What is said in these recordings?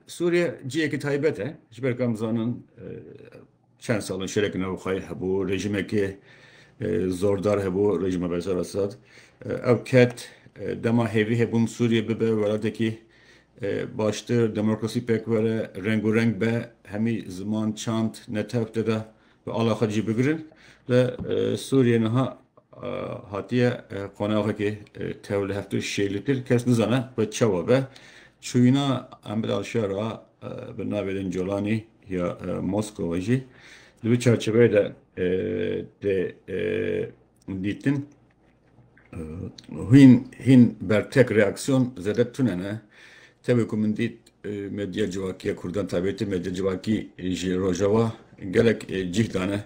Sûriye cihekî taybet e. Ji ber ku em dizanin çend sal in şereke navxweyî hebû, rejîmekî zordar hebû, rejîma Beşar Esad. Ew ket dema hêvî hebûn Sûriye bibe welatekî baştir, demokrasî pêk were, rengûreng be, hemî ziman, çand, netew tê de Bi ala xwe cî bigirin ve Sûriyê niha hatiye qonaxekê tev li heftê û şêy li pir kes nizane xwe çawa be. Çûyîna Emir al-Şera bi navê din Colanî ya Moskowa jî di vî çarçeveyê de tê dîtin. Hîn hîn bertek reaksiyon zêde tune ne. Tevê ku min dît medya civakî ya Kurdan taybetî medya civakî ji Rojava gelek cîh dane.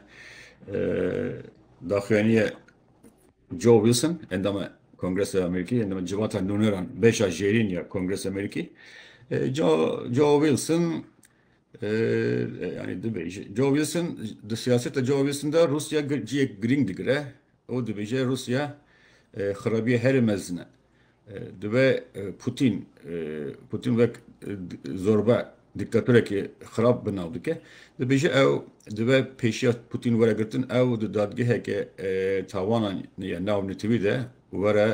Daxuyaniye Joe Wilson endama Kongresa Amerîkî endama civata nûneran beşa jêrîn ya Kongresa Amerîkî. Joe Wilson yani dibêje. Joe Wilson di siyaseta Joe Wilson de Rusya ciyek girîng digire. Û dibêje Rûsya xerabiyê herî mezin e. Dibe Pûtîn, Pûtîn wek zorba dîktatorekî xerab bi nav dike. Dibêje ew dibe pêşiya Pûtîn were girtin ew di dadgeheke tawanan ya nav netewî de were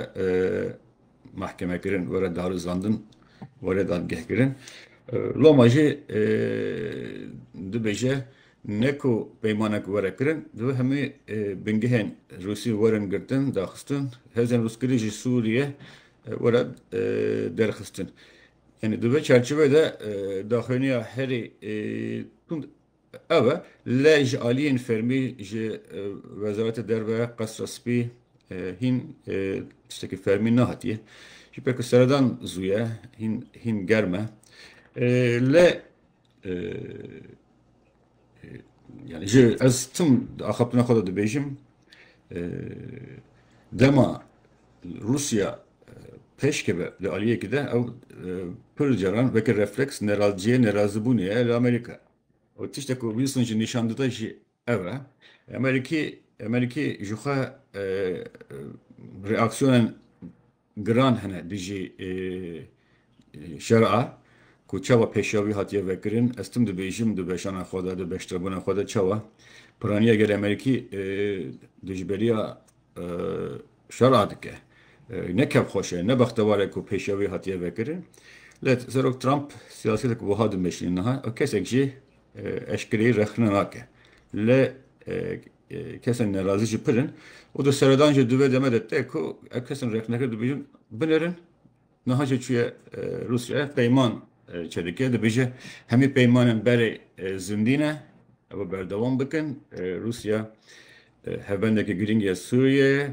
mahkeme kirin, were darizandin, were dadgeh kirin. Loma jî dibêje ne ku peymana ku were kirin, divê hemî bingehên Rûsî werin girtin, daxistin, hêzên rûskirî ji Sûriyê were derxistin. Yanî di vê çerçivê de daxuyaniya herî tund Ew e, lê ji aliyên fermî ji Wezaretê Derve, Qesra Spî hîn tiştekî fermî nehatiye. Ji ber ku seredan zû ye, hîn hîn germ e. Lê yanî ji ez tim di axaftina xwe de dibêjim, Dema Rûsya pêşkeve li aliyekî de ew pir caran weke refleks nerazciyê nerazibûnê ye li Amerîka. Ew tiştek ku Wilson jî nîşan dide jî ev e. Amerîkî Amerîkî jixwe reaksiyonên Giran hene dijî şera ku çawa pêşiyavî hatiye vekirin, ez tim dibêjim di beşana xwe de, di beştirbûna xwe de çawa piraniya gelê Amerîkî dijberiya şera dike. Ne kevxweş e, ne bextewar e ku pêşiyavî hatiye vekirin. Lê Serok Trump siyasetek wiha dimeşîne niha, kesek jî eşkereyî rexne nake. Lê Kesên nerazî jî pir in û di seredan jî di vê deme de tê ku ev kesên rexnekir dibêjin binerin. Niha jî çûye Rûsya peyman çêdike dibêje hemî peymanên berê zindî ne ew ê berdewam bikin. Rûsya hevbendeke girîng ya Sûriyeyê ye.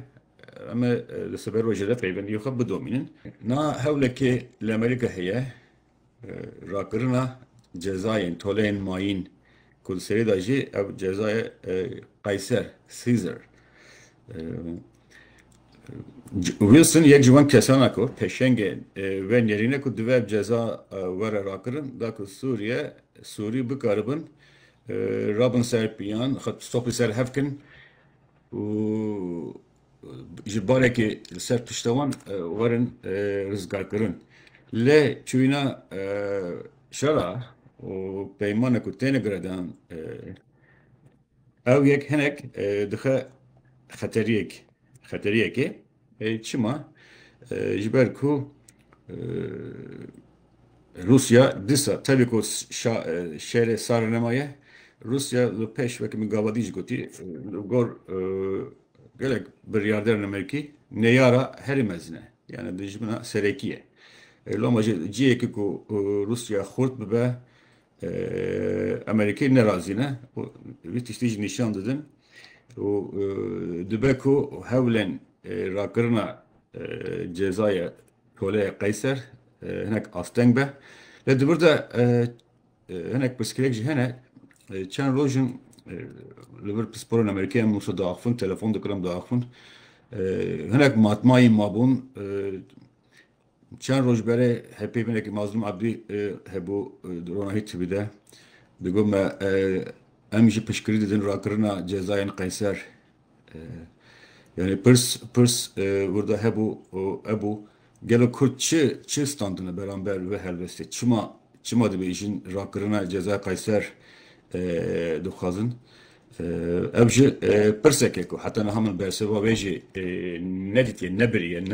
Em ê li siber rojê de peybendiyê xwe bidomînin. Niha hewlekê li Amerîka heye rakirina cezayên toleyên mayîn ku di serê de jî ev cezaya Qeyser, Caesar. Wilson yek ji wan kesana ku peşengê vê nêrîne ku divê ev ceza were rakirin da ku Sûriye Sûrî bikaribin rabin ser piyan xwe topî ser hev kin û ji barekê li ser pişta wan werin rizgarkirin. Lê çûyîna şera û peymanek û têne giredan ew yek hinek dixe xeteriyek xeteriyekê çima ji ber ku Rûsya disa tevî ku şerê sar nemaye Rûsya li pêş wekî min gavadî jî gotî li gor Gelek biryarder nemekî neyara herî mezin e. Yani dijmina serekî ye. E, loma jî cihêkî ku e, Rûsya xurt bibe e, Amerîkayê nerazî ne û vî tiştî jî nîşan didin û e, dibe ku hewlên e, rakirina e, cezaya toleyê qeyser e, hinek asteng be. Lê di vir de e, Hinek pirsgirêk jî hene. Çend roj in li vir pisporên Amerîkî em wisa diaxivin, telefon dikin em diaxivin. Hinek matmayî mabûn. Çend roj berê hepê binekî Mazlûm Ebdî hebû di ronahî TV de. Digot me em jî piştgirî didin rakirina cezayên Qeyser. Yani pirs pirs burada hebû ebû gelo ku çi çi standine beramber ve helwestê çima çima dibê jin rakirina ceza Kayser dixwazin ev ji pirseke ku heta niha min bersiva wê jî nedîtiye nebiriye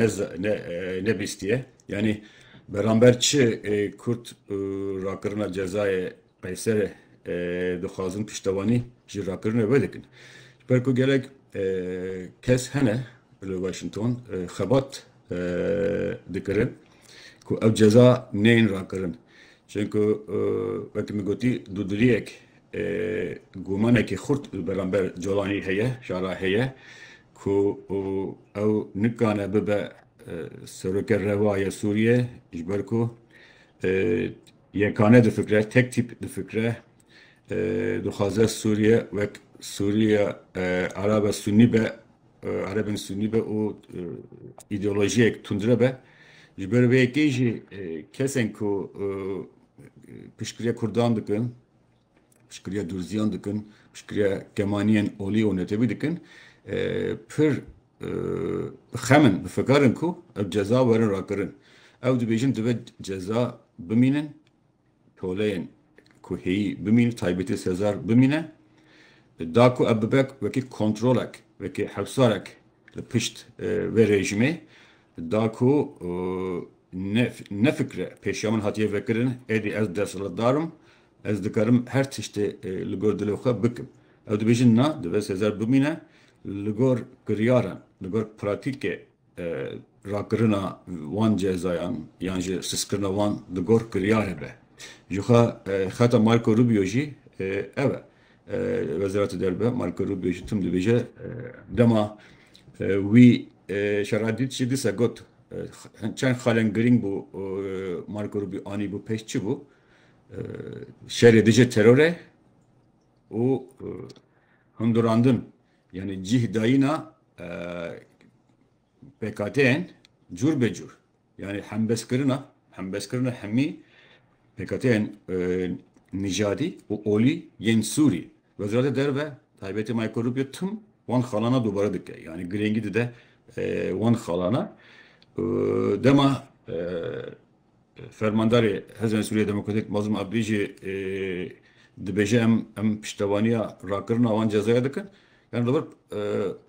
nebîstiye yanî beramber çi kurt rakirina cezayê Qeyser, Dixwazin piştewanî ji rakirine vedikin. Ji ber ku gelek kes hene li Washington xebat dikirin ku ev ceza neyên rakirin. Çunku wekî min gotî dûdiliyek gumanekî xurt li beramber Colanî heye, şara heye ku ew nikane bibe seroke rewa ya Sûriyê ji ber ku Yekane difikre, tek tîp difikre, dixwaze Sûriye wek Sûriya Arabe Sunnî be, Erebên Sunnî be û îdeolojiyek tundre be. Ji ber vê yekê jî kesên ku piştgiriya Kurdan dikin, piştgiriya dûrziyan dikin, piştgiriya kemaniyên olî û netewî dikin, pir bi xem in, bi fikar in ku ev ceza werin rakirin. Ew dibêjin dibe ceza bimînin, toleyên ku hêyî bimînin, taybetî sezar bimîne. Da ku ev bibe wekî kontrolek, wekî hewsarek li pişt vê rejimê, da ku ne fikre pêşiya min hatiye vekirin, êdî ez desthilatdar im, Ez dikarim her tiştê li gor dilê xwe bikim. Ew dibêjin na, divê Sêzer bimîne li gor kiryaran, li gor pratîkê rakirina wan cezayan yan jî siskirina wan di gor kiryarê be. Jixwe xeta Marco Rubio jî ev e. Wezîrata Derve Marco Rubio jî tim dibêje dema wî şera dît jî dîsa got çend xalên girîng bû Marco Rubio anîbû pêş çi bû. Şerê dije terore û hundurandin yanî cîh dayîna PKT'ên cûr be cûr yanî hembeskirina hembeskirina hemî PKT'ên nîjadî û olî yên Sûrî Wezareta Derve taybetî Mayko Rubio tim wan xalana dubare dike yanî girêngî dide wan xalana dema Fermandarê Hêzên Sûriyeyê Demokratîk Mazlûm Abdî jî dibêje em piştevaniya rakirina wan cezayê dikin. Yan li vir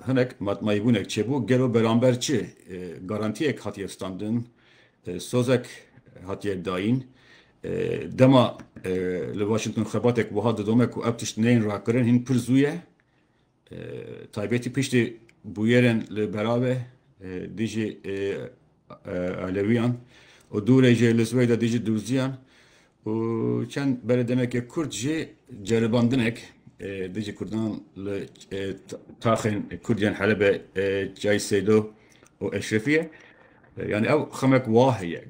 hinek matmayîbûnek çêbû, gelo beramber çi garantiyek hatiye standin, sozek hatiye dayîn. Dema li Washington xebatek wiha didome ku ev tişt neyên rakirin hîn pir zû ye. Taybetî piştî bûyerên li Berave dijî Elewiyan û dûrê jê li Swêda dijî Dûrziyan û çend berê demekê Kurd jî ceribandinek dijî Kurdan li taxên Kurd yên Helebe Çay Sêdo û Eşrefiye. Yanî ew xemek wa heye.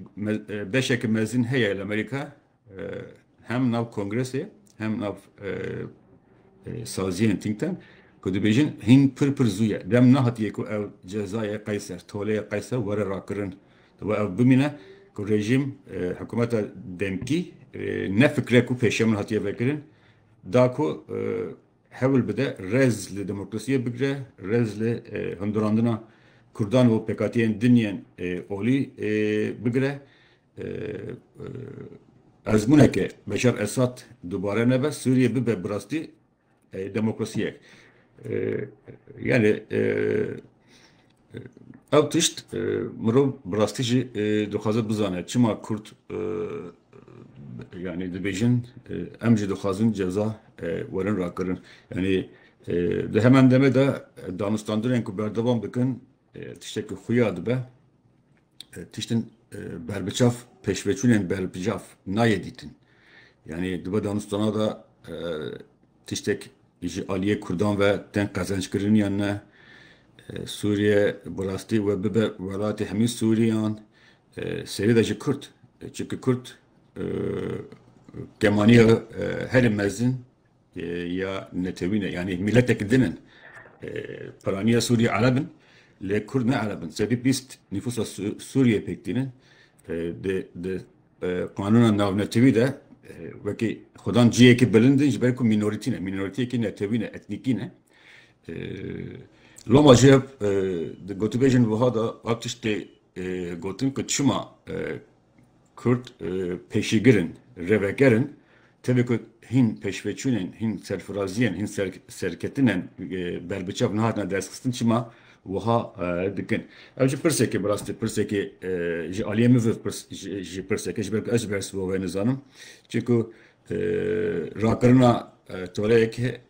Beşeke mezin heye li Amerîka Hem nav kongresê hem nav saziyên think tank ku dibêjin hîn pir pir zû ye. Dem nehatiye ku ev cezayê qeyser, toleyê qeyser were rakirin. Dibe ev bimîne ku rejîm hikûmeta demkî ne fikre ku pêşiya min hatiye vekirin da ku hewil bide rez li demokrasiyê bigire, rez li hundirandina Kurdan û pêkhatiyên din yên olî bigire. Ezmûneke Beşar Esad dubare nebe, Sûriye bibe bi rastî demokrasiyek. Yanî ew tişt mirov bi rastî jî dixwaze bizane çima Kurd yanî dibêjin em jî dixwazin ceza werin rakirin. Yanî di heman demê de danûstandinên ku berdewam dikin Tiştek ku xuya dibe, tiştin berbiçav pêşveçûnên berbiçav nayê dîtin. Yanî dibe danûstana de tiştek ji aliyê Kurdan ve tên qezenckirin yan ne, Sûriye bi rastî we bibe welatê hemî Sûriyan, serî de ji Kurd. Çimkî Kurd kemaniya herî mezin ya netewî ne yanî mîletek din in. Piraniya Sûriyê Ereb in lê Kurd ne Ereb in. Sedî bîst nîfûsa Sûriyê pêk tînin. Di qanûna navnetewî de wekî xwedan cihêkî bilind in ji ber ku mînorîtî ne, mînorîtiyekî netewî ne, etnîkî ne. Loma jî hev di gotûbêjên wiha de hev tiştê gotin ku çima Kurd pêşîgir in, rêveger in. Tevî ku hîn pêşveçûnên, hîn serfiraziyên, hîn serketinên berbiçav nehatine destxistin çima wiha dikin? Ev jî pirseke bi rastî pirsekê ji aliyê min ve jî pirseke ji ber ku ez jî bi her sibo ve nizanim. Çimku rakirina toreyeke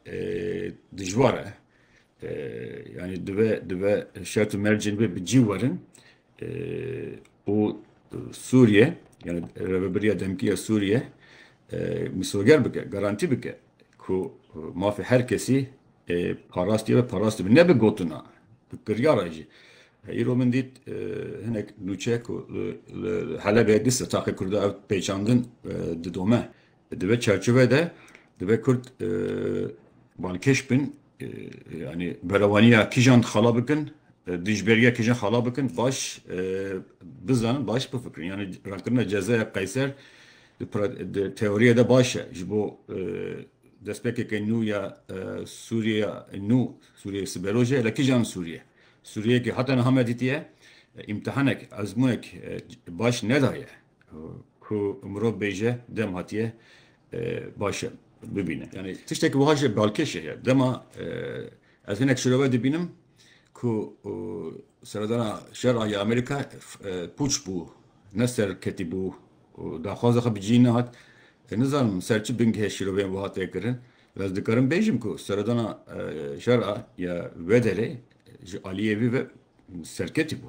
dijwar e. Yanî dibe şert û mercên wê bi cî werin. û Sûriye yani Rêveberiya Demkî ya Sûriye misoger bike, garantî bike ku mafê her kesî parastiye ve parast dibe. Ne bi gotina, bi kiryara jî. Îro min dît hinek nûçe ku li Helebê di sitaqê Kurda ew pêçandin didome. Di vê çerçeve de divê Kurd balkêş bin, yanî berevaniya kîjan xala bikin, dijberiya kîjan xala bikin baş bizanin, baş bifikirin. Yanî rankirina cezaya Qeyser di teoriyê de baş e ji bo destpêkeke nû ya Sûriyeya nû, Sûriyeyê siberoj e, lê kîjan Sûriye? Sûriyeyekî heta niha me dîtiye îmtihanek, ezmûnek baş nedaye. Ku mirov bêje dem hatiye baş e bibîne. Yanî tiştekî wiha jî balkêş e. Dema ez hinek şirove dibînim ku seredana şera ya Amerîka pûç bû, ne serketî bû û daxwaza xwe bi cî nehat. Nizanim ser çi bingehê şiroveyên wiha tê kirin. Ez dikarim bêjim ku seredana şera ya vê derê ji aliyê vî ve serketî bû.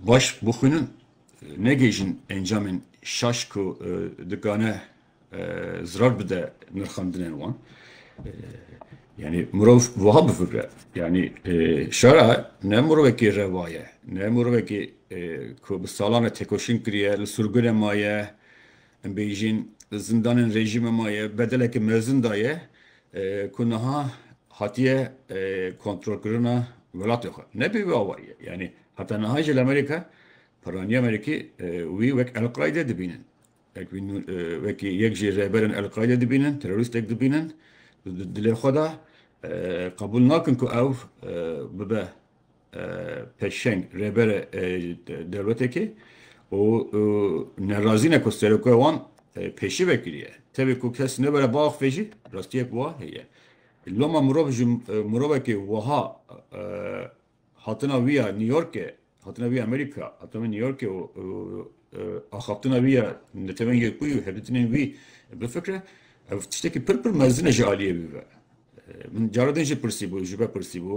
Baş bixwînin, negihîjin encamên şaş ku dikane zirar bide nirxandinên wan. Yanî mirov wiha bifikire, yanî şara ne mirovekî rewa ye, ne mirovekî ku bi salan re têkoşîn kiriye, li surgunê maye, em bêjîn li zindanên rejîmê maye, bedelekî mezin daye, ku niha hatiye kontrolkirina welatê xwe nebê wê awayî ye. Yanî heta niha jî li Amerîka perranîya Amerîkî wî wek El-Qaîde dibînin. Wekî yek ji rêberên El-Qaîde dibînin, terorîstek dibînin û di dilê xwe de qebûl nakin ku ew bibe peşeng rêbere dewletekê û nerazî ne ku seroka wan pêşî vekiriye. Tevê ku kes nebere biaxivê jî rastiyek wa heye. Loma mirov ji mirovekê wiha hatina wî ya New Yorkê, hatina wî ya Amerîka, hatina wî ya New Yorkê û axaftina wî ya netewên Yekbûyî û hevdîtinên wî bifikre, ev tiştekî pir pir mezin e ji aliyê wî ve. Min cara din jî pirsîbû, ji me pirsîbû,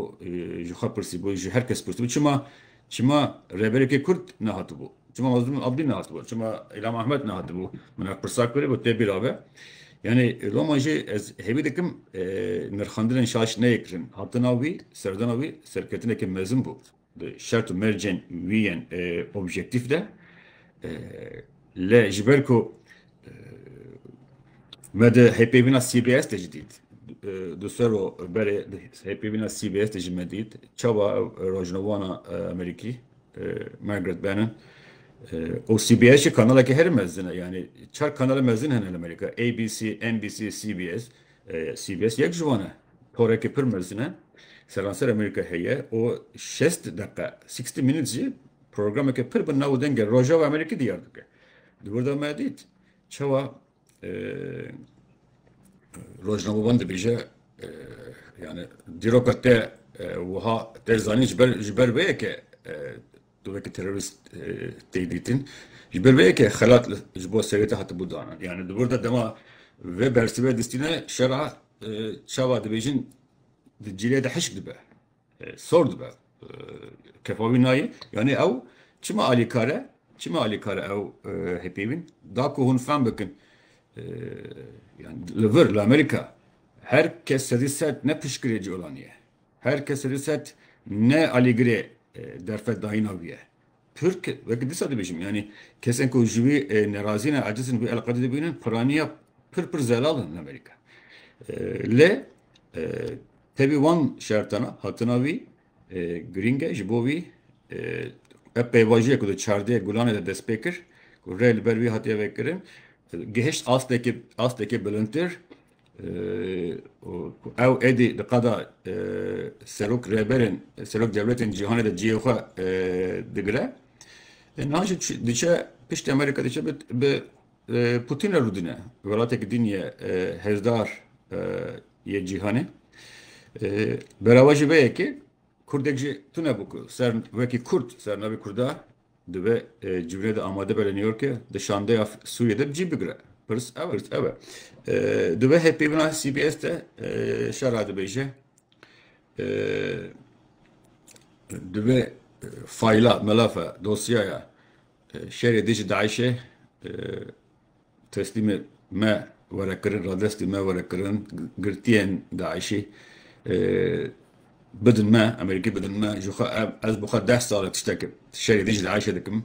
ji xwe pirsîbû, ji her kes pirsîbû çima çima rêberekî Kurd nehatibû? Çima Mazlûm Abdî nehatibû? Çima Îlham Ahmed nehatibû? Min ev pirsa kir û tê bîra be. Yanî loma jî ez hêvî dikim nirxandinên şaş neyê kirin. Hatina wî, serdana wî serketineke mezin bû. Di şert û mercên wî yên objektîf de lê ji ber ku me di hêvpêvîna CBS de jî dît di ser û berê di hêvpêvîna CBS de jî me dît çawa ew rojnavana Amerîkî Margaret Bennett û CBS jî kanalekî herî mezin e yanî çar kanala mezin hene li Amerîka ABC, NBC, CBS CBS yek ji wan e. Porekê pir mezin e. Seranser Amerîka heye û şest deqe, sixty minutes, jî programeke pir bi nav û dengê Rojava Amerîkî diyar dike. Di wir de me dît çawa rojnamevan dibêje yani dîroka te wiha te zanîn ji ber ji ber vê ye ke Di weke terorîst tê dîtin. Ji ber vê yekê xelat ji bo serêta hatibû danan. Yani di vir de dema vê bersivê distîne şera çawa dibêjin di cîrê de hişk dibe. Sor dibe. Kefa wî nayê. Yani ew çima alîkar e? Çima alîkar e ew hêpêvîn? Da ku hûn fem bikin yani li vir li Amerîka her kes sedî sed ne piştgirê colanî ye. Her kes li set ne alîgirê derfet dayîna wî ye. Tirk, weke dîsa dibêjim, yanî kesên ku ji wî nerazî ne, aciz in wî eleqedê dibînin, piraniya pir pir zelal in li Amerîka. Lê tevî wan şertan e, hatina wî girîng e, ji bo wî ev pêvajoyê ku di çardeh gulanê de dest pê kir, ku rê li ber wî hatiye vekirin, gihişt astekê astekê bilindtir, Ew êdî di qada serok rêberên serok dewletên cîhanê de cihê xwe digire. Niha jî diçe piştî Amerîka diçe bi Putîn re rûdine. Welatekî din ye hêzdar yê cîhanê. Berava jî vê yekê Kurdek jî tune bû ku ser wekî Kurd ser navê Kurda Divê civînê de amade be li New Yorkê, di şandeya Sûriyê de bi cî bigire. Pirs ew e. Divê hêvpêvina CBS de şer radibêje. Divê fayla, melafa, dosyaya şerê dijî DAIŞ'ê Teslîmê me were kirin, radestê me were kirin, girtiyên DAIŞ'î bidin me, Amerîkî bidin me, ji xwe ev, ez bi xwe deh sal e tiştek şerê dijî DAIŞ'ê dikim.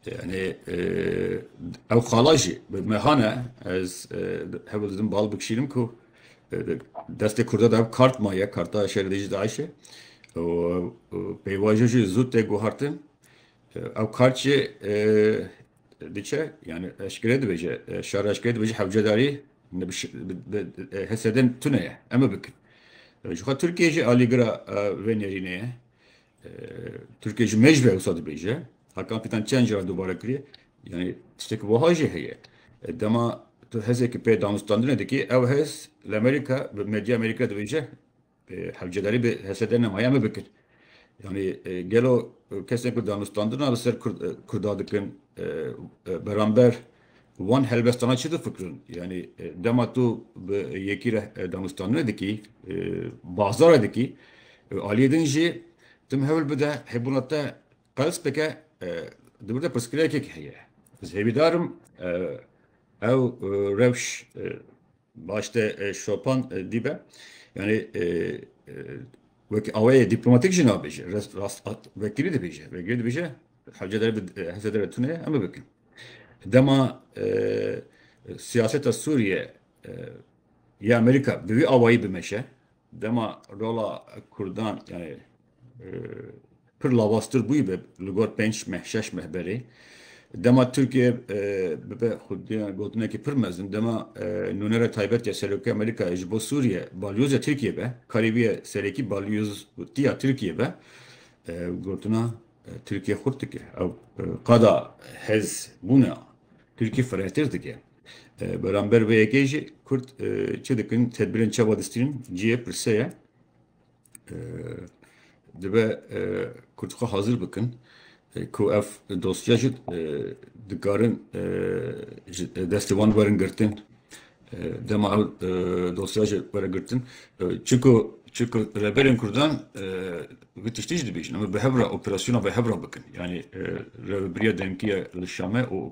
Yanî ew xala jî bi me hane, ez hewl didim bal bikişînim ku destê Kurda de ev kart maye, karta şerê dijî DAIŞ'ê û pêvajo jî zû tê guhartin. Ew kart jî diçe yani eşkere dibêje şar eşkere dibêje hewcedarî hesedin tune ye eme bikin. Ji xwe Tirkiye jî alîgira vê nêrînê ye. Tirkiye ji mêj ve wisa dibêje. Hakan Fidan çend caran dubare kiriye. Yani tiştekî wiha jî heye. Dema tu hezekî pê danûstandinê dikî ew hez li Amerîka bi medya Amerîka dibêje Hevcedarî bi hesede ne maye me bikir. Yanî gelo kesên ku danûstandina li ser Kurda dikin beramber wan helbestana çi difikirin? Yanî dema tu bi yekî re danûstandinê dikî, bazarê dikî, aliyê din jî tim hewil bide hebûna te Perspeke di wir de pirsgirêkek heye. Ez hêvîdar im ew rewş baş de şopan dîbe. Yanî wekî awayê dîplomatîk jî nabêje. Vekirî dibêje. Vekirî dibêje hewce dere bi hewce dere tune ye em ê bikin. Dema siyaseta Sûriye ya Amerîka bi vî awayî bimeşe Dema rola Kurdan yanî pir lavaztir bûyîbe li gor pênc meh, şeş meh berê, dema Tirkiye bibe xwedî gotinekî pir mezin, dema nûnera taybet ya Serokê Amerîkayê ji bo Sûriye balyoza Tirkiye be, karî bûye serekî balyoztiya Tirkiye be, ew gotina Tirkiye xurt dike, ew qada hêzbûna Tirkiye firehtir dike. Beramber vê yekê jî Kurd çi dikin, tedbîrên çawa distînin cihê pirse ye. Dibe Kurd xwe hazir bikin ku ev dosya jî dikarin ji destê wan werin girtin. Dema ew dosya jî were girtin çiku çiku Rêberên Kurdan vê tiştî jî dibêjin em ê bi hev re operasyona bi hev re bikin. Yanî Rêvebiriya Demkî ye li Şamê û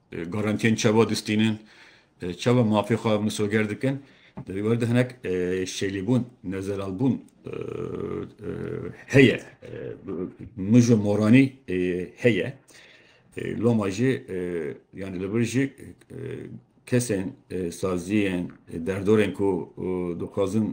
Garantiyên çawa distînin, çawa mafê xwe misoger dikin, di vî ber de hinek şêlîbûn, nezelalbûn heye, mij û moranî heye. Loma jî yanî li vir jî kesên, saziyên, derdorên ku dixwazin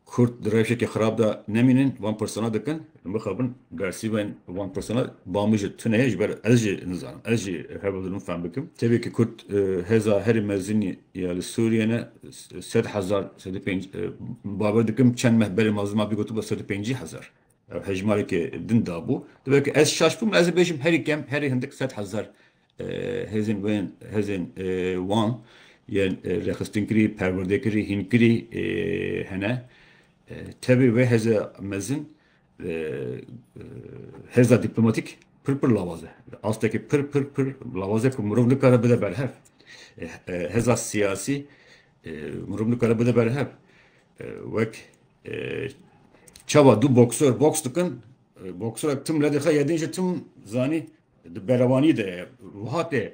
Kurd di rewşekî xirab de nemînin, van pirsana dikin, bixabin bersîvên van pirsana ba min jî tune ye ji ber ez jî nizanim, ez jî hev didim fehm bikim. Tevî ku Kurd hêza herî mezinî ya li Sûriyê ne sed hezar, sed û pênc bawer dikim çend meh berê ma ziman bî gotibû sed û pêncî hezar. Ev hejmarekê din dabû. Dibe ku ez şaş bûm, ez ê bêjim herî kem, herî hindik sed hezar Hêzên wên hêzên wan yên rêxistinkirî, perwerdekirî, hînkirî hene. Tevî wê hêza mezin hêza dîplomatîk pir pir lawaz e. Di astekî pir pir pir lawaz e ku mirov nikare bide berhev. Hêza siyasî mirov nikare bide berhev. Wek çawa du boksor boks dikin, boksorek tim lê dixe yedin jî tim zanî Di berevanî de wiha tê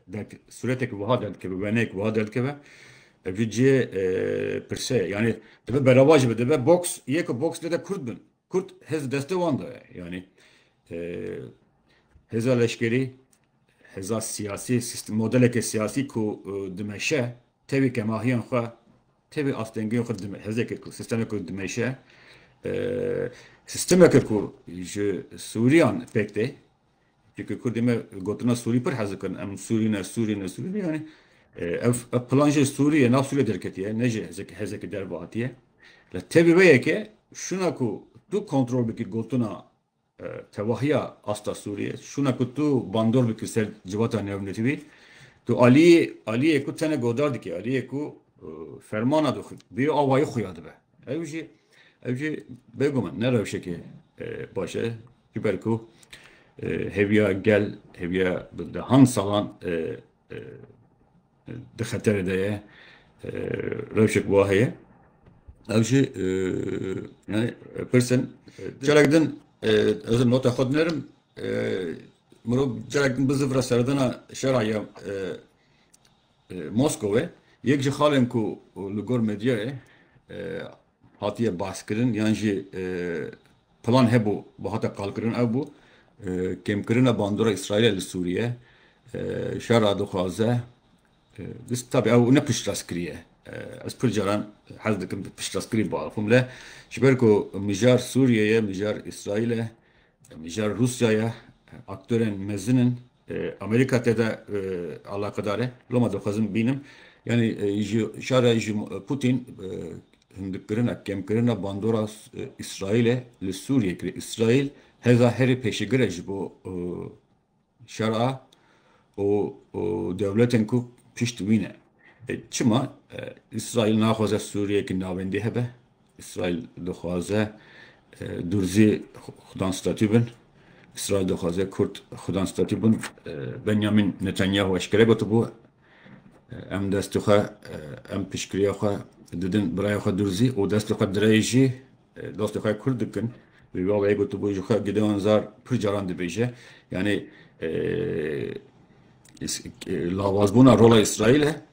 derk suretek wiha derk dikibe wenek wiha derk dikibe ev cê pirse yani dibe bereva jî dibe box yê ku box lê de kurd bin kurd hêz destê wan de ye yani hêza leşkerî hêza siyasî sistem modeleke siyasî ku dimeşe tevî kemahiyan xwe Tevî astengiyên xwe dime. Hêzeke ku sîstemeke ku dimeşe, sîstemeke ku ji Sûriyan pêk tê. Çimkî Kurdê me gotina Sûrî pir hez dikin. Em Sûrî ne, Sûrî ne, Sûrî ne. Yanî ev plan jî Sûriyê, nav Sûriyê derketiye, ne jî hêzeke derve hatiye. Li tevî wê yekê, şûna ku tu kontrol bikî gotina Tevahiya asta Sûriyê şûna ku tu bandor bikî ser civata newnirîwî. Tu aliyê aliyê ku tenê godar dikî, aliyê ku fermana dû bi awayî xuya dibe. Ew jî ew jî bêguman ne rewşekê baş e. Ji ber ku hêviya gel, hêviya bi dehan salan di xeterê de ye rewşek wa heye ew jî yani pirsin carek din ez nota xwe dinerim mirov carek din bizivra serdana şera ya Moskowê yek ji xalên ku li gor medyayê Hatiye baskirin yan jî plan hebû û hate qalkirin ew bû kêmkirina bandora Îsraîlê li Sûriye. Şera dixwaze dist tabî ew ne piştrast kiriye. Ez pir caran hez dikim bi piştrastkirî biaxivim le ji ber ku mijar Sûriye ye, mijar Îsraîl e, mijar Rûsya ye, aktorên mezin in Amerîka te de alaqedar e. Loma dixwazim bînim. Yanî ji şara ji Pûtîn hindikirina, kemkirina bandora Îsraîlê li Sûriyê kiriye. Îsraîl hêza herî pêşegir e ji bo şer a û dewletên ku pişt wî ne. Çima Îsraîl naxwaze Sûriyeyekî navendî hebe? Îsraîl dixwaze Durzî xudan statî bin. Îsraîl dixwaze Kurd xudan statî bin. Benyamîn Netanyahu eşkere gotibû, Em destê xwe, em piştgiriya xwe didin birayê xwe Durzî û destê xwe direyê jî dostê xwe Kurd dikin. Wî bi awayî gotibû, Ji xwe Gideon Zar pir caran dibêje. Yanî lawazbûna rola Îsraîl e.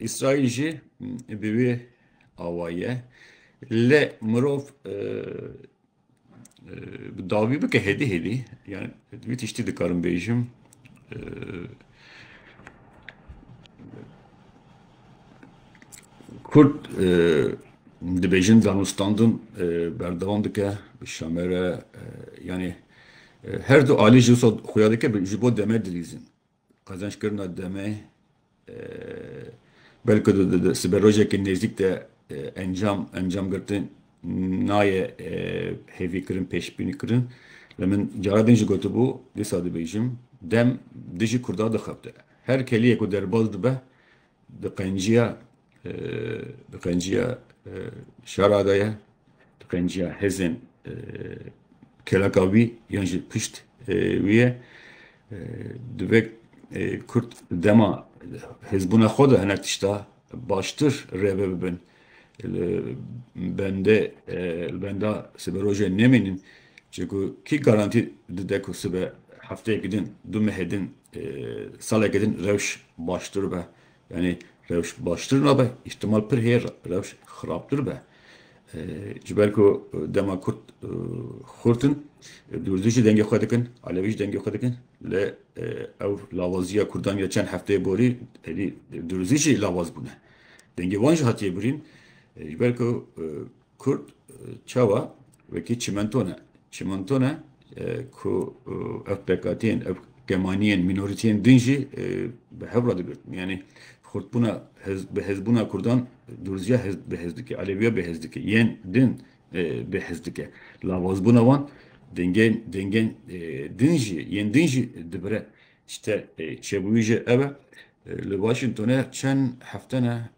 Îsraîl jî bi wê awa ye. Lê mirov bi dawî bike hêdî hêdî yani wî tiştî dikarim bêjim Kurd dibêjin zanûstandin berdewam dike bi şamere yani her du alî jî wisa xuya dike ji bo deme dilîzin. Qezençkirina demê belku di siberojekî nêzîk de encam encam girtin nayê hêvîkirin pêşbînîkirin. Lê min cara din jî gotibû, dîsa dibêjim, dem dijî Kurdan dixebite. Her keliyê ku derbas dibe di qenciya Di qenciya şara de ye, di qenciya hêzên kêleka wî yan jî pişt wî ye. Divê Kurd dema hêzbûna xwe de hinek tişta baştir rêve bibin. Li bendê li benda siberojê nemînin. Çêku kî garantî dide ku sibe hefteyekî din, du mehê din, salekî din rewş baştir be. Yanî rewş baştir nabe, îhtimal pir heye rewş xirabtir be. Ji ber ku dema Kurd xurt in, Dûrdû jî dengê xwe dikin, Elewî jî dengê xwe dikin. Lê ew lawaziya Kurdan ya çend hefteyê borî êdî Dûrzî jî lawaz bûne. Dengê wan jî hatiye birîn. Ji ber ku Kurd çawa wekî çimento ne. Çimento ne ku ev pekatiyên, ev kemaniyên, mînoriteyên din jî bi hev re digirtin. Yanî xurtbûna, bihêzbûna Kurdan Durziya bihêz dike, Eleviya bihêz dike, yên din bihêz dike. Lavazbûna wan dengên, dengên din jî, yên din jî dibire. Tişte çêbûyî jî ev e. Li Washingtonê çend hefte ne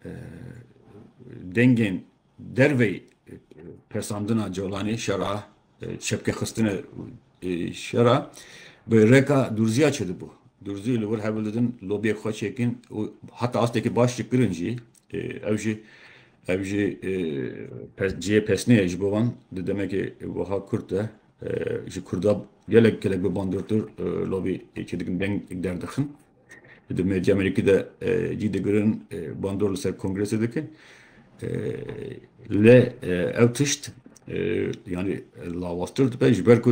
dengên Dervey pesandina Colanê şera çepke xistine şera bi rêka Durziya çidibû. Durzî li wir hev didin lobiyek xwe çêkin û heta astekî baş dikirin jî ew jî ew jî cihê pesnê ye ji bo wan di demekê wiha kurt de ji kurda gelek gelek bi bandortir lobî çêdikin deng derdixin. Di medya Amerîkî de cî digirin bandor li ser kongresê dikin. Lê ew tişt yanî lawaztir dibe ji ber ku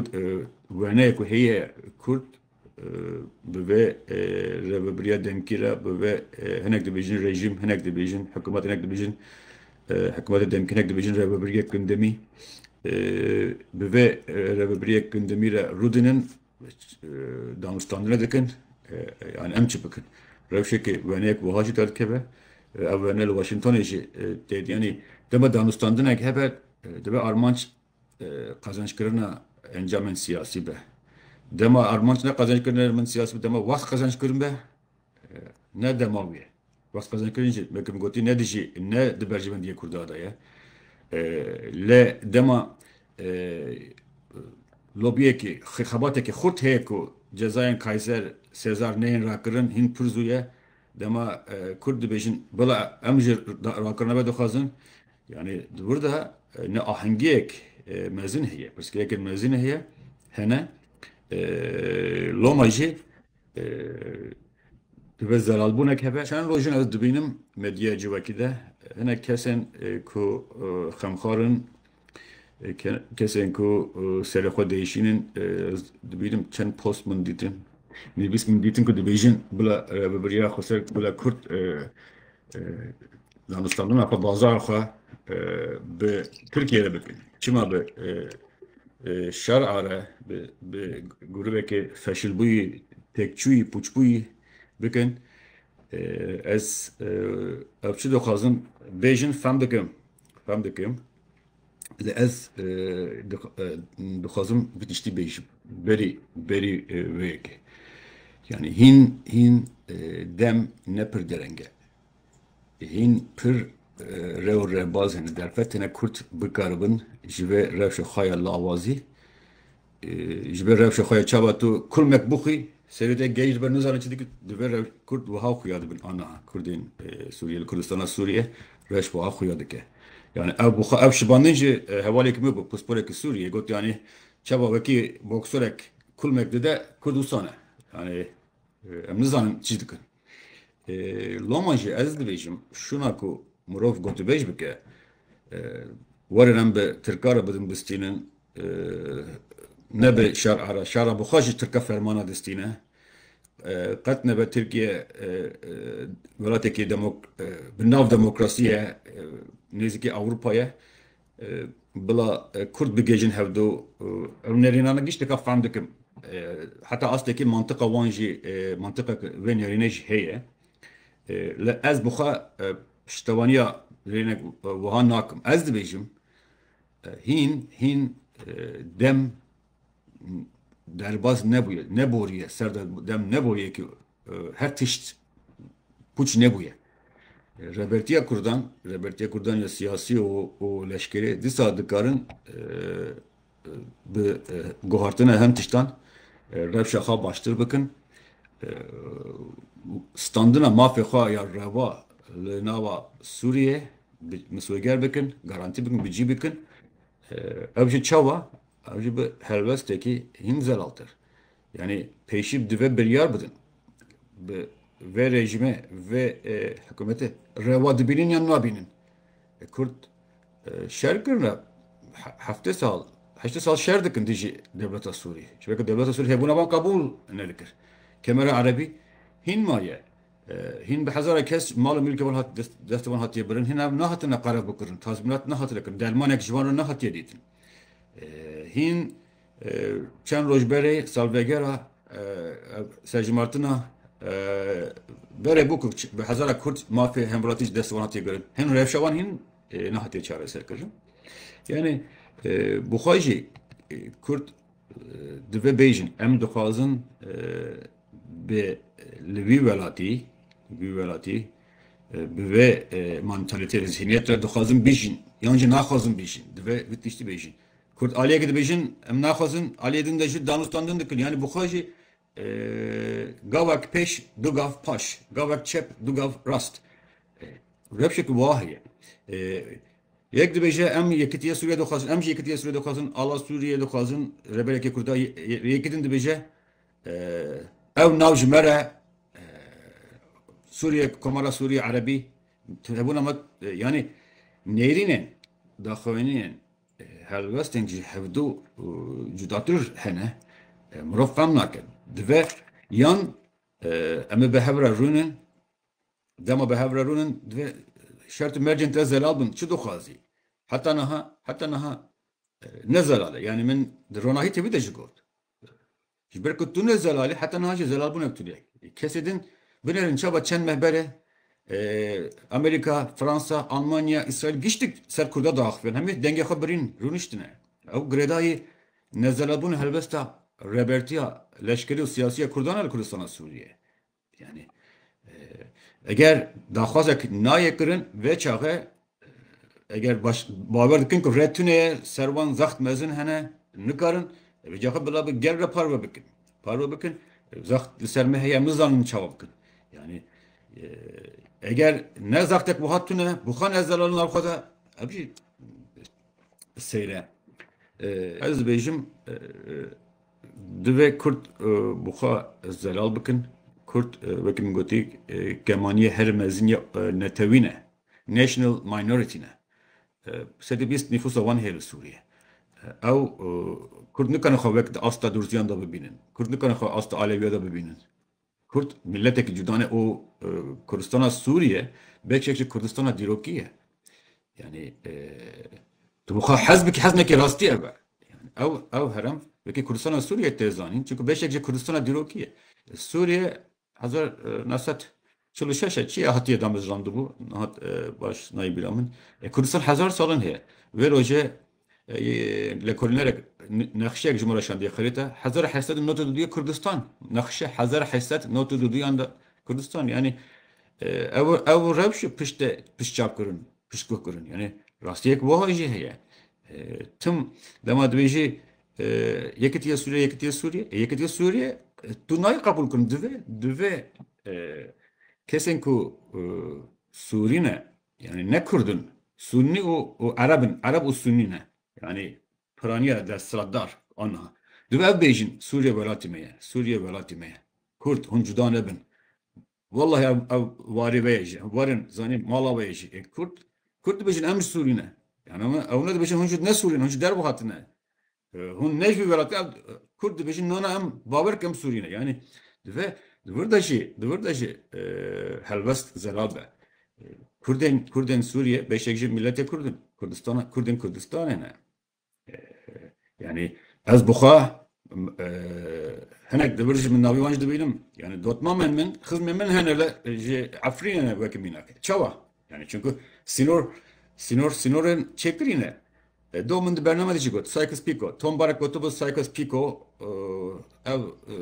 weneyê ku heye Kurd bi vê rêvebiriya demkî re bi vê hinek dibêjin rejîm hinek dibêjin hikûmet hinek dibêjin hikûmetê demkî hinek dibêjin rêvebiriyek gundimî bi vê rêvebiriyek gundimî re rûdinin Danûstandine dikin yanî em çi bikin? Rewşeke weneyek wiha jî derdikeve, ev wene li Washingtonê jî tê dîtin. Yanî dema danûstandinek hebe dibe armanc qezencikirina encamên siyasî be. Dema armanc ne qezencikirina encamên siyasî be, dema wext qezenckirin be. Ne dema wî ye. Wextê xezenkirinê jî weke min gotî ne dijî ne di berjivendiyê Kurda de ye. Li dema lobiyekî xebatekî xurt heye ku cezayên Kayser, Sezar neyên rakirin hîn pir zû ye. Dema Kurd dibêjin bila em jî rakirina me dixwazin yanî di wir de ne ahengiyek mezin heye. Pirsgirêkên mezin heye hene. Loma jî Divê zelalbûnek hebe. Çend roj in ez dibînim medyaya civakî de hinek kesên ku xemxar in, kesên ku serê xwe diêşîn in ez dibînim çend post min dîtin, nivîs min dîtin ku dibêjin bila rêvebiriya Xweser bila Kurd Danûstandina xwe bazara xwe bi Tirkiye re bikin. Çima bi şer'a re bi grûvekê feşilbûyî, têkçûyî, pûçbûyî bikin. Ez ev çi dixwazim bêjin fem dikim. Lê ez dixwazim vê tiştî bêjim berî berî wê yekê. Yanî hîn hîn dem ne pir dereng e. Hîn pir rew û revbazên li derve têne kurt bikaribin ji vê rewşa xwe ya lawazî Ji ber rewşa xwe ya çawa tu kurmek bixwî, serê te geyî li ber nizane çi dikir, divê re kurd wiha xuya dibin aniha kurdên Sûriyê li Kurdistana Sûriyê rewş wiha xuya dike. Yanî ew bi xwe ev şibandin ji hevalêkî min bû pisporekî Sûriyê got yanî çawa wekî boksorek kurmek dide kurd wisa ne. Yanî em nizanin çi dikin. Loma jî ez dibêjim şûna ku mirov gotûbêj bike werin em bi tirkan re bidin bistînin, Nebe şar ara şara bi xwe ji Tirka fermana distîne. Qet nebe Tirkiye welatekî bi nav demokrasî ye, nêzîkî Ewropa ye. Bila Kurd bigihîjin hevdo ew nerînane giş dika fehm dikim. Heta astekî mantiqa wan jî mantiqa ku vê nerînê jî heye. Li ez bi xwe piştevaniya rênek wiha nakim. Ez dibêjim. Hîn hîn dem derbas nebûye, neboriye, ser de dem neboye ki her tişt pûç nebûye. Rebertiya Kurdan, rebertiya Kurdan ya siyasî û leşkerê dîsa dikarin bi guhartina hem tiştan rewşa xwe baştir bikin. Standina mafê xwe ya reva li nava Sûriyê Misweger bikin, garantî bikin, bicî bikin. Ew jî çawa? Ew jî bi helwestekî hîn zelaltir. Yanî pêşî divê biryar bidin. Bi vê rejîmê, vê hikûmetê rewa dibînin yan nabînin? Kurd şer kirine. Heftê sal, heştê sal şer dikin dijî dewleta Sûrî. Çimeke dewleta Sûrî hêbûna wan qebûl nedikir. Kemera Erebî hîn maye. Hîn bi hezara kes mal û milkê wan hat destê wan hatiye birin, hîn ev nehatine qerebikirin, tazmînat nehatine kirin, dermanek ji wan re nehatiye dîtin. Hîn çend roj berê salvegera serjimartina berê bû ku bi hezara kurd mafê hemviratî ji destê wan hatiye birin. Hin rewşa wan hîn nehatiye çareserkirin. Yanî bi xwe jî kurd divê bêjin em dixwazin Bi li vî welatî, vî welatî bi vê mantalitê ve, zîhniyet ve dixwazin bijîn yan jî naxwazin bijîn. Divê vê tiştî bêjin. Kurd aliyekî dibêjin em naxwazin, aliyê din de jî danûstan din dikin. Yanî bi xwe jî gavek pêş du gav paş, gavek çep du gav rast. Rewşeke wiha heye. Yek dibêje em yekitiya Sûriyeyê dixwazin, em jî yekitiya Sûriyeyê dixwazin, ala Sûriyeyê dixwazin, reberekê Kurda yê. Yekî din dibêje Ew nav ji me re Sûriye Komara Sûriye Erebî tevbûna me yanî nêrînên daxuyaniyên helwestên ji hevdû cudatir hene mirov fem nake dive yan em ê bi hev re rûnin dema bi hev re rûnin divê şert û mercên te zelal bin çi dixwazî heta niha heta niha ne zelal e yanî min di ronahî tevî de jî got Ji ber ku tu ne zelal î heta niha jî zelal bûne bi tu re. Kesê din binerin çaba çend meh bere Amerîka, Fransa, Almanya, Îsraîl giştik ser Kurda diaxivin. Hemî dengê xwe birîn rûniştine. Ew girêdayî nezelalbûna helbesta rebertiya leşkerî û siyasî ya Kurdan e li Kurdistana Sûriyê. Yanî eger daxwazek nayê kirin vê çaxê eger baş bawer dikin ku rê tune ye ser wan zext mezin hene nikarin vê caxê bila bi gel re parve bikin. Parve bikin zext li ser me heye nizanin çawa bikin. Yanî eger ne zextek wiha tune bi xwe ne zelal nal xwe de ev jî seyre. Ez dibêjim Divê Kurd bi xwe zelal bikin. Kurd wekî min gotî kemaniyê herî mezin ya netewî ne, national minority ne. Sedî bîst nîfûsa wan heye li Sûriyê. Ew Kurd nikane xwe wek di asta Durziyan de bibînin. Kurd nikane xwe asta Alewiya de bibînin. Kurd miletekî cuda ne û Kurdistana Sûriye beşek ji Kurdistana dîrokî ye. Yanî tu bi xwe hez bikî hez nekî rastî ev e. Ew ew herem wekî Kurdistana Sûriye tê zanîn çunku beşek ji Kurdistana dîrokî ye. Sûriye hezar neh sed çil û şeş e çi ya hatiye damezrandibû nihat baş nayê bîra min. Kurdistan hezar salin heye. Vê rojê Li kolinerek nexşeyek ji Maraşan dê xirêta hezar û hesed û nod û du duyê Kurdistan. Nexşe hezar û hesed nod û du duyan de Kurdistan. Yanî ew ew rewş e pişt de pişt çap kirin, pişt guh kirin. Yanî rastiyek wiha jî heye. Tim dema divê jî Yekitiya Sûriye, Yekitiya Sûriye. Yekitiya Sûriye tu nayê qebûl kirin. Divê divê kesên ku Sûrî ne, Yanî ne kurd in, sunnî û û ereb in, ereb û sunnî ne. Yanî piraniya desthilatdar aniha divê ev bêjin, Sûriye welatî me ye, Sûriye welatî me ye. Kurd, hûn cuda nebin. Wellahî ev ev warê ve ye jî. Werin zanîn mala we ye jî. Ê kurd, kurd dibêjin em ji Sûrî ne. Yanî ew ne dibêjin hûn ji ne Sûrî ne, hûn ji derve hatine. Hûn ne ji vî welatî ev kurd dibêjin nona em bawer ke em sûrî ne. Yanî divê di wir de jî di wir de jî helwest zelal be. Kurdên Kurdên Sûriyê beşek jî miletê Kurd in. Kurdistana Kurdên Kurdistanê ne. Yanî ez bi xwe hinek di vir jî min navê wan jî dibînim. Yanî dotmamên min, xizmên min hene li ji Efrînê ne weke mînakê. Çawa? Yani çünkü sinor sinor sinorên çêkirî ne. E, do min di bername de jî got Sykes Picot. Tom Barek gotibu Sykes Picot e, ev e,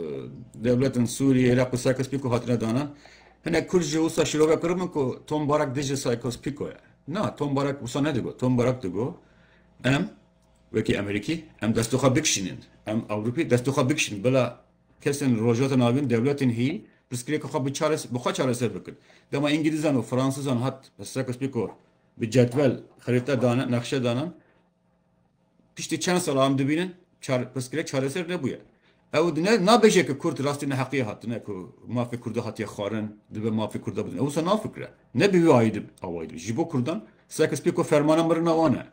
dewletin Sûriyê Iraq û Sykes Picot hatine danan. Hinek Kurd jî wisa şirove kirin min ku Tom Barek dijî Sykes Picot ye. Na Tom Barek wisa nedigo. Tom Barek digo em wekî Amerîkî em destû xwe bikişînin. Em Ewropî destû xwe bikişînin bila Kesên li Rojhilata Navîn dewletên hî pirsgirêka xwe bi çares bi xwe çareser bikin. Dema Îngilîzan û Fransizan hat pirsgirêka spî ku bi cedwel xerîte dane nexşe danan piştî çend sal an dibînin çar pirsgirêk çareser nebûye. Ew di ne nabêje ku kurd rastî neheqî hatine ku mafê kurda hatiye xwarin dibe mafê kurda bidin. Ew wisa nafikire. Ne bi wî ayî dibe awayî dibe. Ji bo kurdan seka spî ku fermana mirina wan e.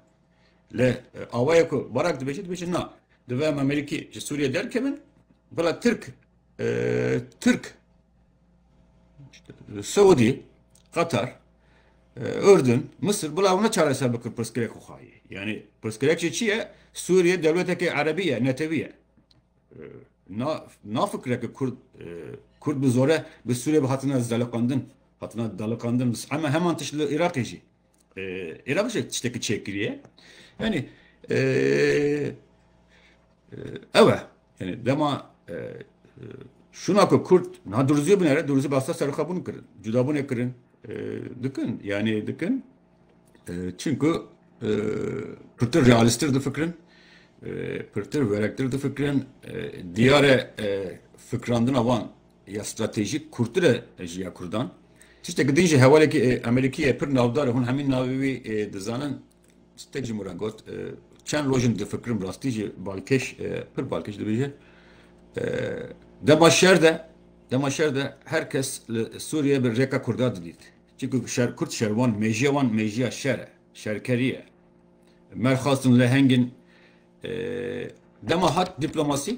Li awayê ku Barak dibêje dibêje na divê em Amerîkî ji Sûriyê derkevin bila Tirk e, Tirk Suudî Qatar e, Urdun Misir bila ew neçareser bikin pirsgirêk xwexayê yanî pirsgirêk jî çi ye Sûriyê dewletekê erebî ye netewî ye e, na na fikreke kurd e, kurd bi zore bi Sûriyê bi hatina zeliqandin hatina daliqandin ama heman tişt li Îraqê jî Iraq jî tiştekî çêkiriye. Yanî ew e. Yanî dema şûna ku Kurd niha Durziyê bûne re, Durzî basta serxwebûn kirin, cudabûnê kirin. Dikin, yanî dikin. Çimku pirtir realîsttir difikirin, pirtir werektir difikirin. Diyar e fikrandina wan ya stratejîk kûrtir e ji ya Kurdan. Tiştekî din jî hevalekî Amerîkî ye pir navdar e, hûn hemî navê wî dizanin, Stek ji min re got, Çend roj in difikirim rastî jî balkêş, pir balkêş dibêje. Dema şer de, dema şer de her kes li Sûriyeyê bi rêka Kurdan didît. Çimkî şer, Kurd şer wan, mêjiya wan mêjiya şer e, şerkerî ye. Merxas in, leheng in. Dema hat dîplomasî,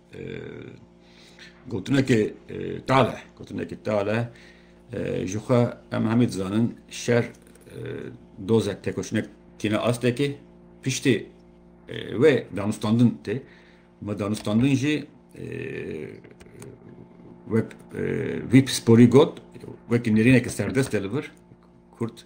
Gotinekê tale gotinekê tale ji xwe em hemî dizanin şer dozek tekoşinek tîne astekê piştê wê danûstandin tê me danûstandin jî wek vî pisporî got wekî nêrîneke serdest e li vir kurt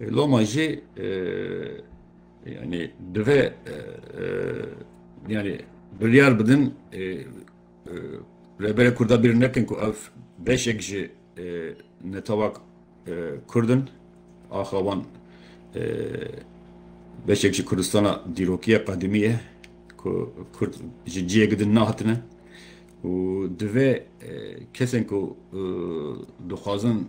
Loma jî yanî divê yanî biryar bidin Rêberê Kurda bîr nekin ku ev beşek ji netew'a Kurd in. Axa wan beşek ji Kurdistana dîrokiya qedimî ye ku Kurd ji cihêk din nehatine û divê kesên ku dixwazin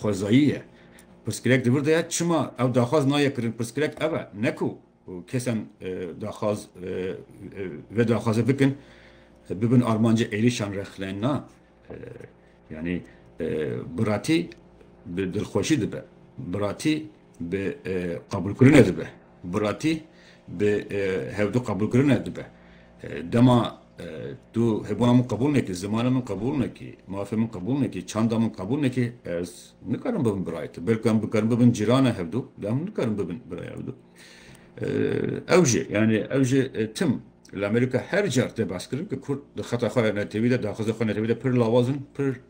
Xwezayî ye. Pirsgirêk di vir de ye çima ew daxwaz nayê kirin pirsgirêk ev e ne ku kesan daxwaz vê daxwazê bikin bibin armancê êrîşan rexlên na yanî biratî bi dilxweşî dibe biratî bi qebûlkirinê dibe. Biratî bi hevdu qebûlkirine dibe. Dema tu hebûna min qebûl nekî, zimanê min qebûl nekî, mafê min qebûl nekî, çanda min qebûl nekî, ez nikarim bibim birayê te. Belkî em bikarin bibin cîran e hevdu, lê em nikarin bibin birayê hevdu. Ew jî, yanî ew jî tim li Amerîka her car tê behskirin ku Kurd di xeta xwe ya netewî de, daxwaza xwe ya netewî de pir lawaz in, pir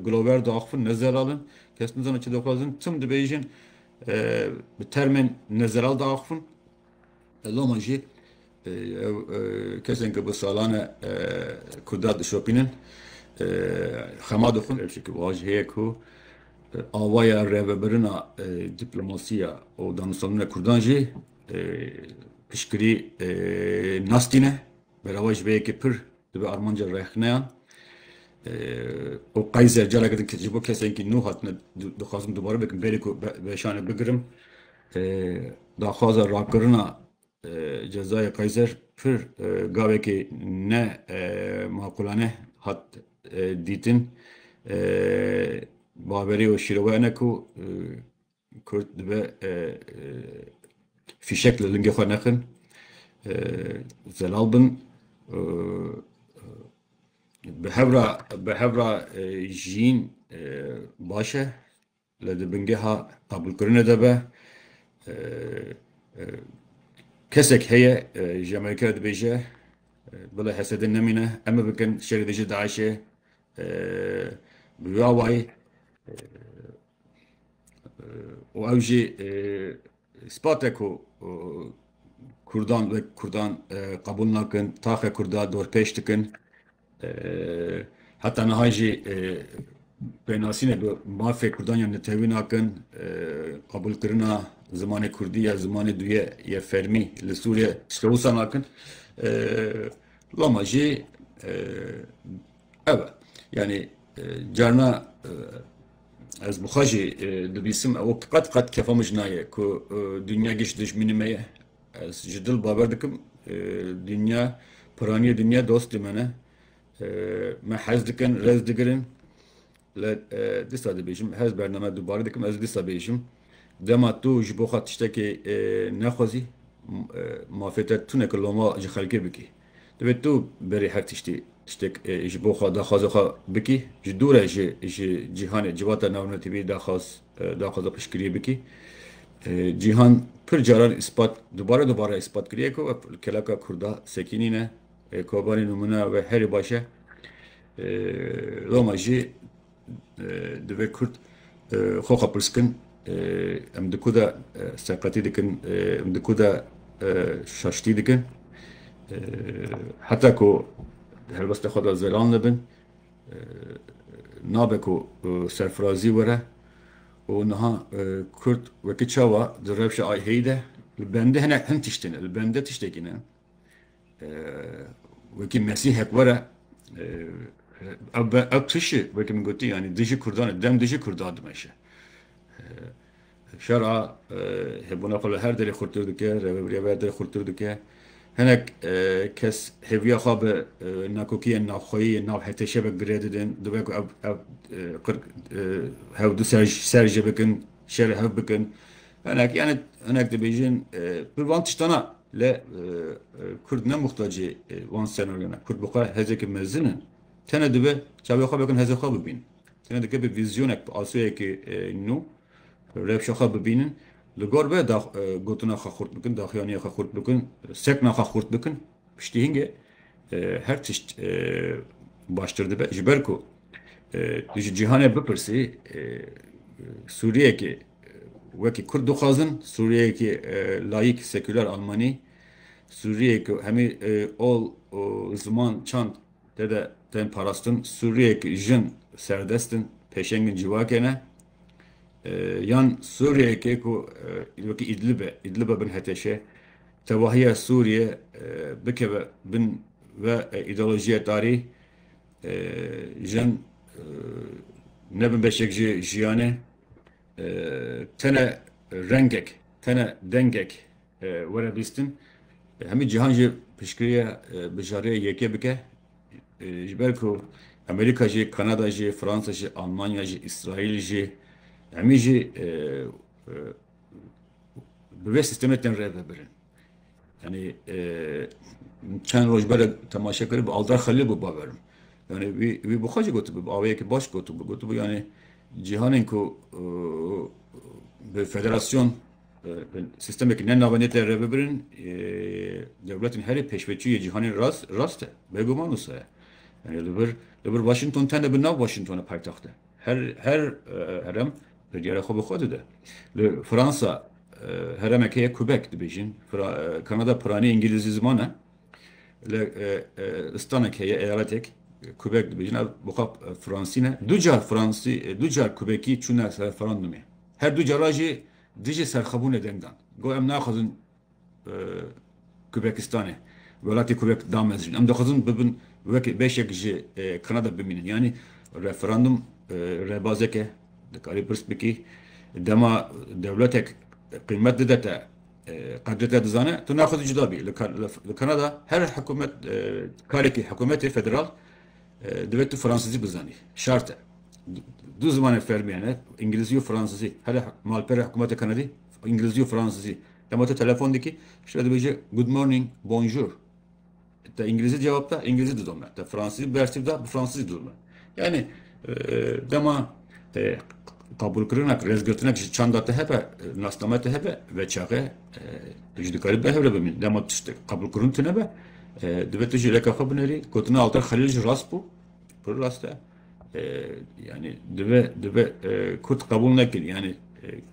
gulober diaxivin, ne zelal in, kes nizane çi dixwazin, tim dibêjin Bi termên nezeral de axivin. Loma jî ew kesên ku bi salan e Kurda dişopînin xema dixwin. Çimkî wiha jî heye ku awaya rêvebirina dîplomasiya û danûstandina Kurdan jî piştgirî nas tîne. Berava ji vê yekê pir Dibe armanca rexneyan û qeyzer careke din ji bo kesên ku nû hatine dixwazim dubare bikim berê ku beşane bigirim daxwaza rakirina cezayê qeyzer pir gavekê ne maqûlane hat dîtin baverî û şîrove hene ku Kurd dibe fîşek li lingê xwe nexin, zelal bin. Bi hevra bi hevra jiyîn baş e. Li di bingeha qabûlkirinê de be kesek heye ji Amerîkayê re dibêje bile hesedên nemîne em ê bikin şerê dijî DAIŞ'ê bi wê awayî û ew jî spate ku Kurdan wek Kurdan qebûl nakin, taxe Kurda dorpêş dikin. Heta niha jî pênasînê bi mafê Kurdan ya netewî nakin. Qebûlkirina zimanê Kurdî ya zimanê duyê ya fermî li Sûriyê tişta wisa nakin. Loma jî ew e. Yanî carina Ez bi xwe jî dibîsim ew qet qet kefa min jî nayê ku dinya giş dijminî me ye. Ez ji dil bawer dikim dinya piranîyê dinya dostê me ne. Me hez dikin, rez digirin. Lê dîsa dibêjim her bername dubare dikim ez dîsa bêjim dema tu ji bo xwe tiştekê nexwezî mafê te tune ki loma ji xelkê bikî. Divê tu berî her tiştî tiştek ji bo xwe daxwaza xwe bikî, ji dû re ji ji cîhanê civata navnetîbî daxwaz daxwaza piştgiriyê bikî. Cîhan pir caran îspat dubare dubare îspat kiriye ku kelaka kurda sekînî ne, Kobanî nimûne we herî baş e. Loma jî Divê kurd xwe xwe pirs kin em di ku de seqetî dikin, em di ku de şaştî dikin. Heta ku di helwesta xwe de zelal nebin nabe ku serfirazî were û niha kurd wekî çawa di rewşa IH'î de li bendê hinek hin tiştî ne, li bendê tiştekî ne. وەکی mesîhek were ew tişi wekî min gotî yanî dijî kurdan e dem dijî kurdan dimeşe şera hebûna xwe li her derê xurtir dike reveberiya ve derê xurtir dike hinek kes hêviya xwe bi nakokiyên navxweyî yên nav heteşe ve girê didin divê ku ev qirk hev du ser ji bikin şer hev bikin Hinek yani hinek dibêjin bi van tiştana le Kurd ne muhtacê van senaryona. Kurd bi xwe hezekî mezin in. Tene dibe çavê xwe bikin hezê xwe bibînin. Tene dike bi vîzyonek bi asûyekê nû rewşa xwe bibînin. Li gor be da gotina xwe xurt bikin, daxiyaniya xwe xurt bikin, sekna xwe xurt bikin. Piştî hinge her tişt baştir dibe. Ji ber ku Tu ji cîhanê bipirsî Sûriyeyekê wekî Kurd dixwazin, Sûriyeyekî layîk, sekûler, almanî, Sûriyeyê ku hemî ol û ziman, çand tê de tên parastin, Sûriyeyê ku jin serdest in, pêşengên civakê ne yan Sûriyeyekê ku wekî Îdlib e, Îdliba bin heteşê tevahiya Sûriyê bikeve bin ve îdeolojiya tarî Jin nebin beşek ji jiyanê tene rengek tene dengek were bîstin hemî cîhan jî pişkiriye bijarê yekê bike ji ber ku Amerîka jî Kanada jî Fransa jî Almanya jî Îsraîl jî hemî jî bi vê sîstemê tên rêvebirin. Yani e, çend roj bere temaşe kir bi Aldar Xelil bû baverim. Yani wî wî bi xwecî gotibû bi aweyekî baş gotibû gotibû yani cîhanên ku e, bi federasyon e, bi sistemekî ne navê nê te re bibirin e, dewletên herê pêşveçûyê cîhanên rast rast e beguman wisa ye. Yani li vir li vir Washington tene bi nav Washington e paytexte. Her her herem perciyara xwe bi xwe dide. Li Fransa heremek heye Quebec dibêjin. Kanada piranî îngîlîzî ziman e. Li stanek heye eyaletek Quebec dibêjin ev bi xwe fransî ne. Du car fransî du car Quebecî çûne referandumê. Her du cara jî dijî serxwebûnê deng dan. Got em naxwazin Qubekistanê, welatê Qubeq damezrîn. Em dixwazin bibin wek beşek ji Kanada bimînin. Yanî referandum rêbazek e, dikarî pirs bikî. Dema dewletek qîmet dide te, qedrê te dizane, tu naxwazî cuda bî. Li Kanada her hikûmet, karekî hikûmetê federal divê tu fransizî bizanî. Şart e. Du zimanên fermî hene, îngilîzî û fransizî. Here malpera hikûmeta Kanadî Îngilizî û Fransîzî. Dema tu telefon dikî, ji te dibêje Good morning, Bonjour. Te îngilizî cewab da, îngilizî didome. Te fransîzî bersiv da, bi fransîzî didome. Yanî dema qebûlkirinek, rêzgirtinek ji çanda te hebe, nasname te hebe, veçaxe tu jî dikarî bi hev re bimînî. Dema tiştek qebûlkirin tune be, divê tu jî rêka xwe binêrî. Gotina alter Xelîl jî rast bû. Pir rast e. yani dibe dibe Kurd qebûl nekir yani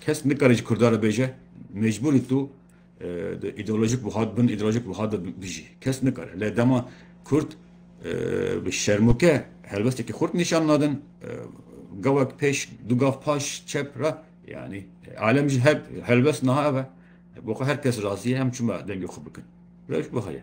kes nikare ji Kurda re bêje mecbûrî tu ideolojik buhat bin ideolojik buhat bijî kes nikare lê dema Kurd bi şermûke helbestekî xurt nîşan nadin gavek pêş du gav paş çep re yani alem ji her helbest niha eve bo her kes razî ye em çima dengê xwe bikin reş bu heye